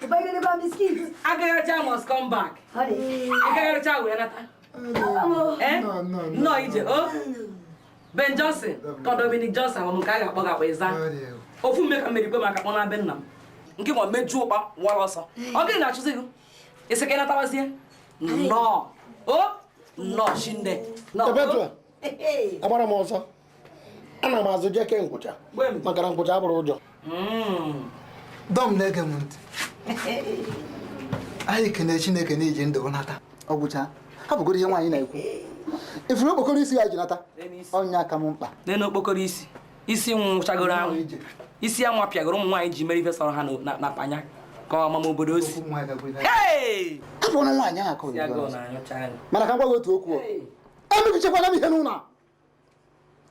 Ịbanyelekwa biskit. Agagharịcha must come back. Ịgagharịcha wee nata. Eh? Nnọọ ije o. Oh. Ben Johnson ka Dominic Johnson ọ m nke a ga-akpọ gakwa ịza. Ofu mme ka m mere kwe maka kpọ na be nna m. Nke ma mejuo ụkpa wara ọsọ. Ọ gịnị na-achụzi gị? Ịsị ka ị natawazie? Nnọọ. O? Oh. Nnọọ shinne. Perpetua. Agbara m ọsọ. ana m azụ jeke nkwụcha maka na nkwụcha abụrọ ụjọ hmm. Dom na-ege m ntị anyị kene chineke na iji ndụ nata ọ gwụcha hapụgodu ihe nwaanyị na-ekwu ifuru okpokoro isi i ji nata ọ nya ka m mkpa lee na okpokoro isi isi nwụchagoro anwụ isi a wapịagoro ụmụ nwaanyị ji mere ife sọrọ ha na panya ka ọ mama obodo o si hapụnụ nwaanyị ahụ aka mana ka m gwa gị otu okwu emebichakwana m ihe n'ụlọ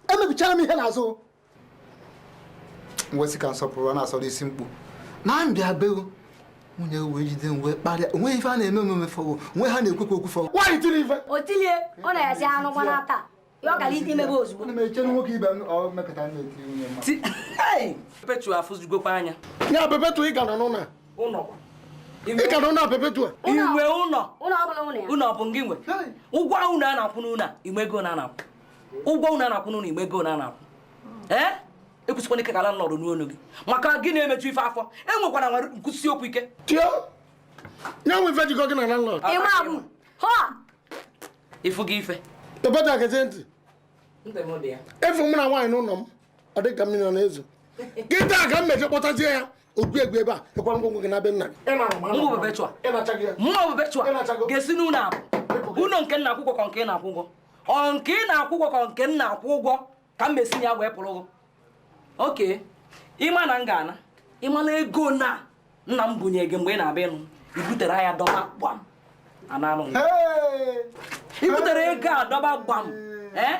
emebichana m ihe n'azụ nwesị ka nsọpụrụ na-asọrọ isi mkpu na m bịa be gị nwunye wee jide m wee kparịa o nwe ife a na-eme omume fọwo onwe ha na-ekwukwa okwu fọwo nwaanyị tiri ife o tilie ọ na-esi anụ gwa n'ata ya ọ gara ite imebe ozugbo ana m eche na nwoke ibe m ọ mekọta m na-etiri nwunye mma Ti- Hey! Pepetu afụzugokwa anya ya Pepetu ị ka nọ n'ụlọ a ị ka nọ n'ụlọ perpetua inwe ụlọ ụlọ bụ gị nwe ụgwọ ụlọ a na-akwụ n'ụlọ inwe ego na na-akwụ ụgwọ ụlọ a na-akwụ n'ụlọ inwe ego na na-akwụ ee ekwusikwana ike ka landlord nụ olu gị maka gị na-emeju ife afọ enwekwara nwere m kwusie okwu ike ya nwe ife jikọ gị na landlord ịfụ gị ife perpetua gezie ntị efu m na nwaanyị n'ụlọ m ọ dị ka mmiri ọ na-ezo kịta ka m meje kpọtazie ya ogwu egwu ebe a ịkwara ngwongwo gị naa be nna gị ga-esi n'ụlọ a pụọ ụlọ nke m na-akwụ ụgwọ ka nke ị na-akwụ ụgwọ ọ nke ị na-akwụ ụgwọ ka nke m na-akwụ ụgwọ ka m mesi ya wee pụọrọ gị okay ịma na m ga-ana ịmala ego na nna m bunye gị mgbe ị na-abịa ịnụ i butere ya dọba gbam ananụ i butere ego a dọba gbam ee eh?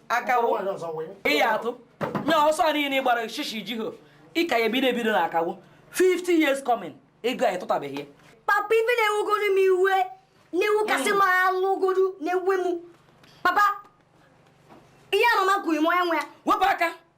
akawo ịya atụ nya ọsọ niile ị gbara shishi jiho ị ka ya ebido ebido na akawo 50 years coming ego anyị tụtabeghị ya papa ife na-ewegoro m iwe na-ewe ka sị m nwụgodu na-ewe m papa ihe mama kwuru m onye nwe ya wepụ aka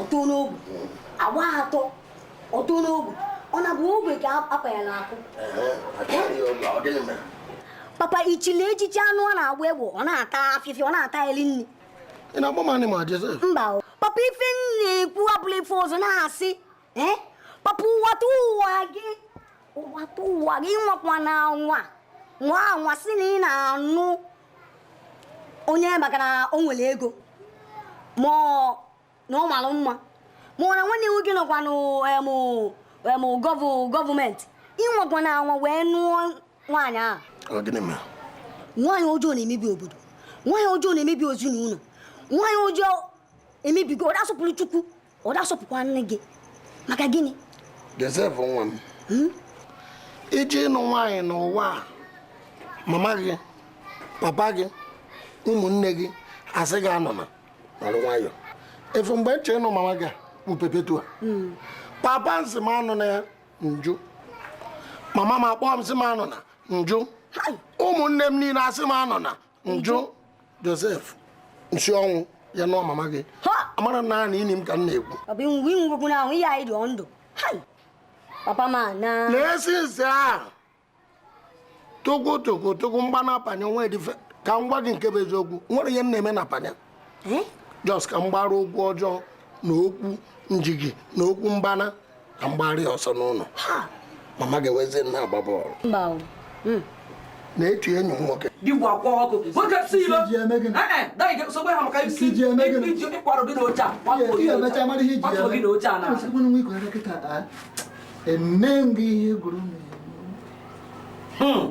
ọtụ n'ogbe agba atọ ọtụ n'ogbe ọ na-abụ ogbe ka apa ya n'akụ papa ichili echichi anụ ọ na-agba egbe ọ na-ata afịfịa ọ na-ata eri nri ị na-agba m anị ma jeze mba papa ife m na-ekwu abụlọ ife ọzọ na-asị eh? papa nwata nwa gị nwata nwa gị nwakwa na nwa nwa nwa sị na ị na-anụ onye maka na o nwere ego ma na ọ mara mma ma ọ na nwanne nwoke nọkwa n'ime gọọmenti ị nwakwana anwa wee nụọ nwaanyị ahụ nwaanyị ọjọọ na-emebi obodo nwaanyị ọjọọ na-emebi ezinụlọ nwaanyị ọjọọ emebigo ọ da-asọpụrụ chukwu ọ da-asọpụkwa nne gị maka gịnị Josef nwa m hmm? ị je ịnụ nwaanyị n'ụwa a mama gị papa gị ụmụnne gị asị gị anụna nọrọ nwayọ ị fụ mgbe m je ịnụ mama gị bụ Perpetua hmm. papa m sị m anụna ya m jụ mama m akpọọ m sị m anụna m jụ ụmụnne m niile asị m anụna m jụ josef m si ọnwụ ya nụọ mama gị amara na naanị ini m ka m na-egwu ọ bụ inwe inwegwu na ahụ ihe anyị dị ndụ hai papa ma na na-esi nsị ahụ tụkwụ tụkwụ tụkwụ m gbana panya nwa edife ka m gwa gị nke bụ eziokwu nwere ihe m na-eme na panya Hmm? just ka m gbara okwu ọjọọ na okwu njigi na okwu mgbana ka m gbara ya ọsọ n'ụlọ mama ga-ewezi m na-agba bọọlụ hmm. na-etu enyi m nwoke digwa kwa ọkụ nwoke si ilo sogbe ha maka isi iji ịkwara gị n'oche a kwapụ gị n'oche a na eme gị ihe gwuru m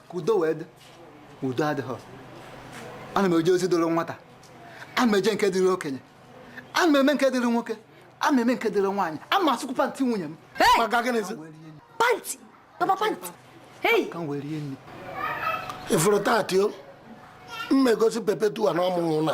ka udo wee dị udo adịghị ana m eje ozi dịrị nwata ana m eje nke dịrị okenye ana m eme nke dịrị nwoke ana m eme nke dịrị nwaanyị ana m asụkwu pantị nwunye m pantị papa pantị hei ka m wee rie nri ị fụrụ tati o mmegosi Perpetua na ọmụmụ na